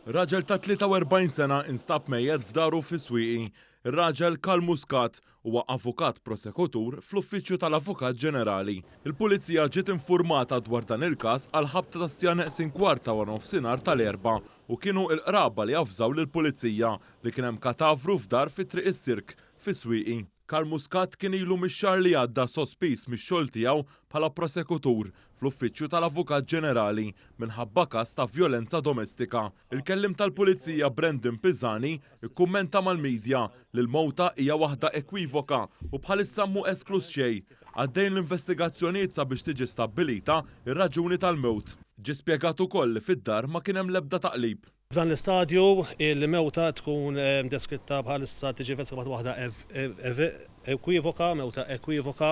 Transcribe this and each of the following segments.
Raġel ta' 43 sena instab mejjet f'daru fi Swieqi. Ir-raġel Karl Muscat huwa avukat prosekutur fl-Uffiċċju tal-Avukat Ġenerali. Il-Pulizija ġiet infurmata dwar dan il-każ għall-ħabta tas-siegħa neqsin kwart ta' wara nofsinhar tal-Erbgħa u kienu il-qraba li avżaw lill-Pulizija li kien hemm katavru f'dar fi Triq is-Sirk fi Swieqi. Karl Muscat kien ilu mix-xahar li għadda sospiż mix-xogħol tiegħu bħala prosekutur fl-Uffiċċju tal-Avukat Ġenerali minħabba każ ta' vjolenza domestika. Il-kelliem tal-Pulizija Brandon Pisani kkummenta mal-media li l-mowta hija waħda ekwivoka u bħalissa mhu eskluż xejn. Għaddejjin l-investigazzjonijiet sabiex tiġi stabbilita r-raġuni tal-mewt. Ġie spjegat ukoll li fid-dar ma kien hemm l-ebda taqlib. F'dan l-istadju, il-mewta tkun deskritta bħalissa tiġi investigata bħala waħda ekwivoka, mewta ekwivoka,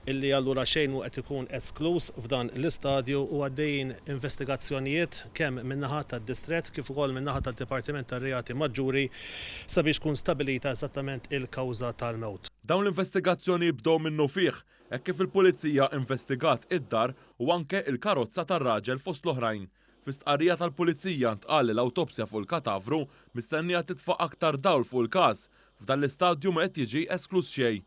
li allura xejn mhu qed ikun eskluż f'dan l-istadju u għaddejjin investigazzjonijiet kemm min-naħa tad-Distrett kif ukoll min-naħa tad-Dipartiment tar-Reati Maġġuri sabiex tkun stabbilita eżattament il-kawża tal-mewt. Dawn l-investigazzjoni bdew minnufih hekk kif il-Pulizija investigat id-dar u anke l-karozza tar-raġel fost l-oħrajn. Fi stqarrija tal-Pulizija ntqal li l-awtopsja fuq il-katavru mistennija titfa' aktar dawl fuq il-każ. F'dan l-istadju ma qed jiġi eskluż xejn.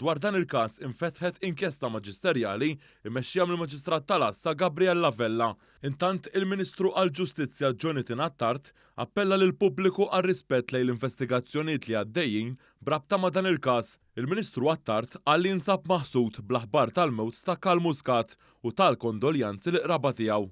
Dwar dan il-każ infetħet inkjesta maġisterjali mmexxija mill-Maġistrat tal-Għassa Gabriella Vella. Intant il-Ministru għall-Ġustizzja Jonathan Attard appella lill-pubbliku għar-rispett lejn l-investigazzjonijiet li għaddejjin b'rabta ma' dan il-każ. Il-Ministru Attard qal li jinsab maħsud bl-aħbar tal-mewt ta' Karl Muscat u ta l-kondoljanzi lill-qraba tiegħu.